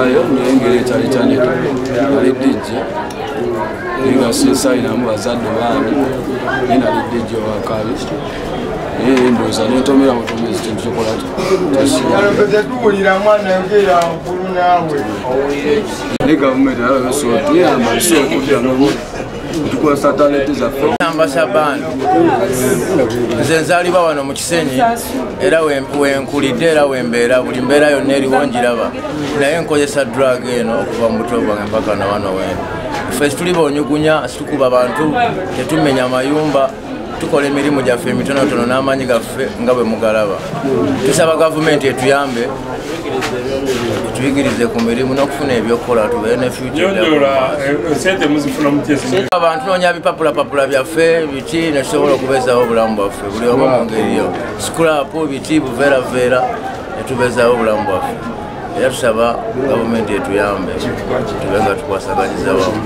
ayo nengeri ekyali kyaneta ali dijje nga sinsayinamu bazadde baani naye nali dijje owakabi naye ndoza netomera butomezi kintu kyokola tuwulira mwana yogera nkulu naawe ne gavumenti alabesotuyamba nsi okudda tukozesa talenti zaffe namba shaban nze nzaliba wano mu kisenyi era wenkulidde era wembeera buli mbeera yonna eriwo njiraba naye nkozesa drug eno okuva mu buto bwange mpaka na wano wena ffe situli bonyugunya situkuba bantu tetumenya mayumba tukola emirimu gyaffe emitonotono n'amaanyi gaffe nga bwe mugalaba tusaba gavumenti etuyambe etuyigirize ku mirimu n'okufuna ebyokukola tubeere ne abantu noonya bipapulapapula byaffe biki netusobola okubezawo obulamu bwaffe buli omu mu ngeri yo sikulapu biki buveeraveera netubezawo obulamu bwaffe era tusaba gavumenti etuyambe tube nga tukwasaganyiza wamu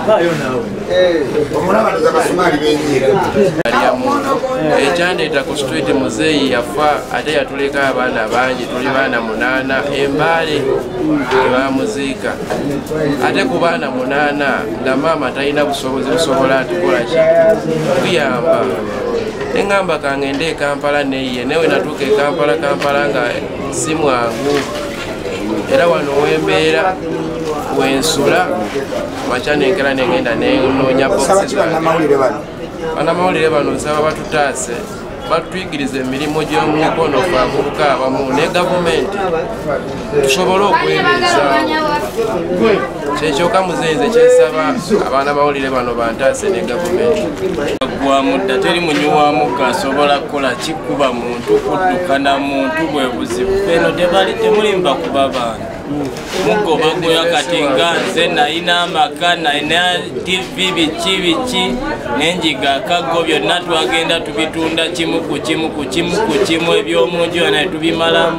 Thank you. ekyandeeta ku street muzeeyi yafa ate yatuleka abaana bangi tuli baana munaana embaale ebamuziika ate ku baana munaana nga maama talina busobozi busobola atukola ki kuyamba neŋamba kange nde ekampala neye newe natuuka ekampala kampala nga simwangu era wano wembeera wensula makya nenkera negenda nenonya banamawulire bano nsaba batutaase batuyigiriza emirimu gy'omukono fe abavubuka abamu ne gavumenti tusobole okwebeezaawo kyekyoka muzenze kyesaba abaana bawulire bano bantaase ne gavumenti gwamudda teri munyi wa mugga asobola kukola kikuba muntu kudduka na muntu bwe buzibu eno tebali temulimba kuba baana muggo bagoya kati nga nze nalina amaka nalina tivi biki biki nenjiga akaggo byonna twagenda tubitunda kimu ku kimu ku kimu ku kimu ebyomunju yanaye tubimalamu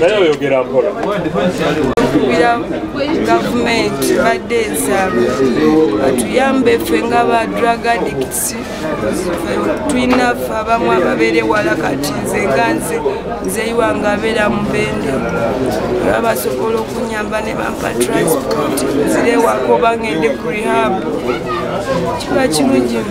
naye oyogera mpola tukubira gavumenti badde ensaba batuyambe ffe nga ba drug addicts tulina ffe abamu ababeere wala kati nze nga nze nzeyiwa nga abeera mubende oba basobola okunyamba ne bampa transport nzirewako bangende ku rehab kiba kirungi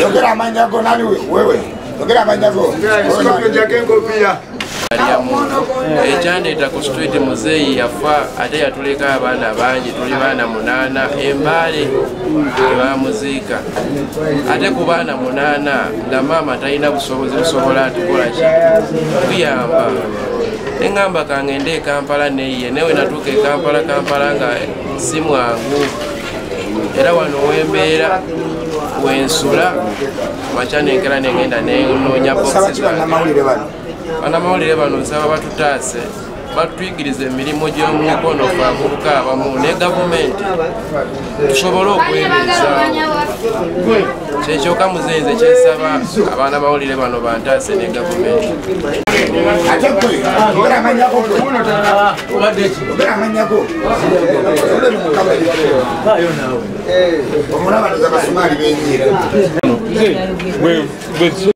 yogera amanya go nani wewe yogera amanya go ekyandeeta ku street muzeeyi yafa ate yatuleka abaana bangi tuli baana munaana embaale ebamuziika ate ku baana munaana nga maama talina busobozi busobola atukola ki kuyamba neŋamba kangende ekampala neye newe natuuka ekampala kampala nga si mwangu era wano wembeera wensula makya nenkera nengenda nenoonya boxes banamawulire bano nsaba batutaase batuyigiriza emirimu gy'omumikono fe avubuka abamu ne gavumenti tusobole okwebeezaawo kyekyoka muzenze kyesaba abaana bawulire bano bantaase ne gavumenti omulabaniza basumaali benyiira